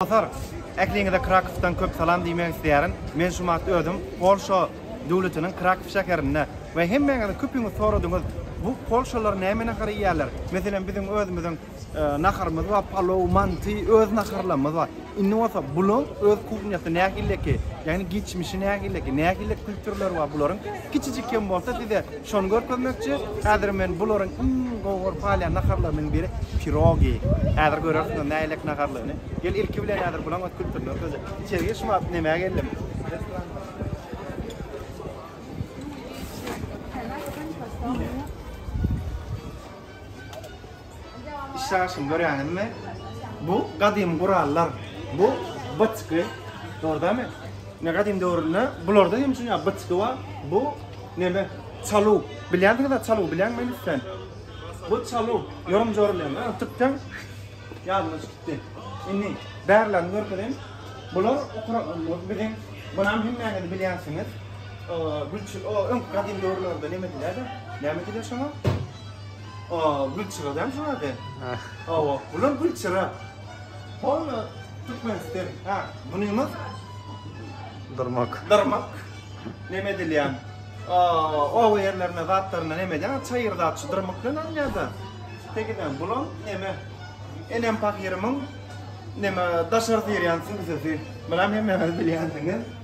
Orunbasar, ähliňize Krakowdan köp salam diýmek isleýärin. Men şu wagt özüm Polşa döwletiniň Krakow şäherinde we hemmäňiz köpiňiz soradyňyz, bu polşalylar näme nahar iýýärler? Meselem, biziň özümiziň naharymyz bar, palow, manty, öz naharlarymyz bar. Indi bolsa bularyň öz kuhnýasy nähileki, ýagny geçmişi nähileki, nähili kültürleri bar bularyň? Kiçijik hem bolsa size Şony görkezmekçi. Häzir men bularyň iň gowy görüp galýan naharlarynyň biri pirogi. Häzir görersizler nähilek naharlygyny. Gel ilki bilen häzir bulaň öz kültürini görkezeli. Içeri gir şuwagt nämä geldim. Işläşini görýäňizmi? Bu gadymy gurallar. Bu bıçky. Dogrudanmy? Ne gadymy döwründe bularda hem şuňa bıçky bar. Bu neme? Çalu. Bilýänsiňiz-ä çalu bilýäňmi inlisden? Bu çalu. Ýorum jorulýan. Ana tutdan ýadyma çykypdy. Indi bärlerini görkezem. Bular biziň bunam hemmäňiz bilýänsiňiz. Gülçi, o öňki gadymy döwürlerde neme diýerler? Näme diýerler şoňa? Aa gülçyra däl şuň ady. Hawa, bular gülçyra. Hol Türkmenistan. Ha, bunymyz Dyrmak. Dyrmak. Neme edilýän? Aa, oba ýerlerine zatlaryna neme edýän? Çaýyr zat şu dyrmak bilen alynýar-da. Tegiden bulam neme? Enem pahyrymyň neme daşary tirýän süňsesi. Bulam hemmäňiz bilýänsiňiz.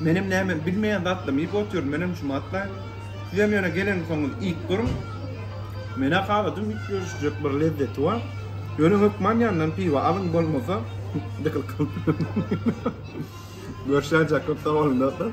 Menem näme bilmeýän zatlym iýip otyryn, menem şumy atlaýyn. Sizem ýöne geleňsoňyz iýip görüň. Men-ä haladym iýip görüşjek bir lezzeti bar. Ýöne hökman ýanyndan piwa alyň bolmasa dykyl kalyň. Görşäýjek köp sag boluň dostlar.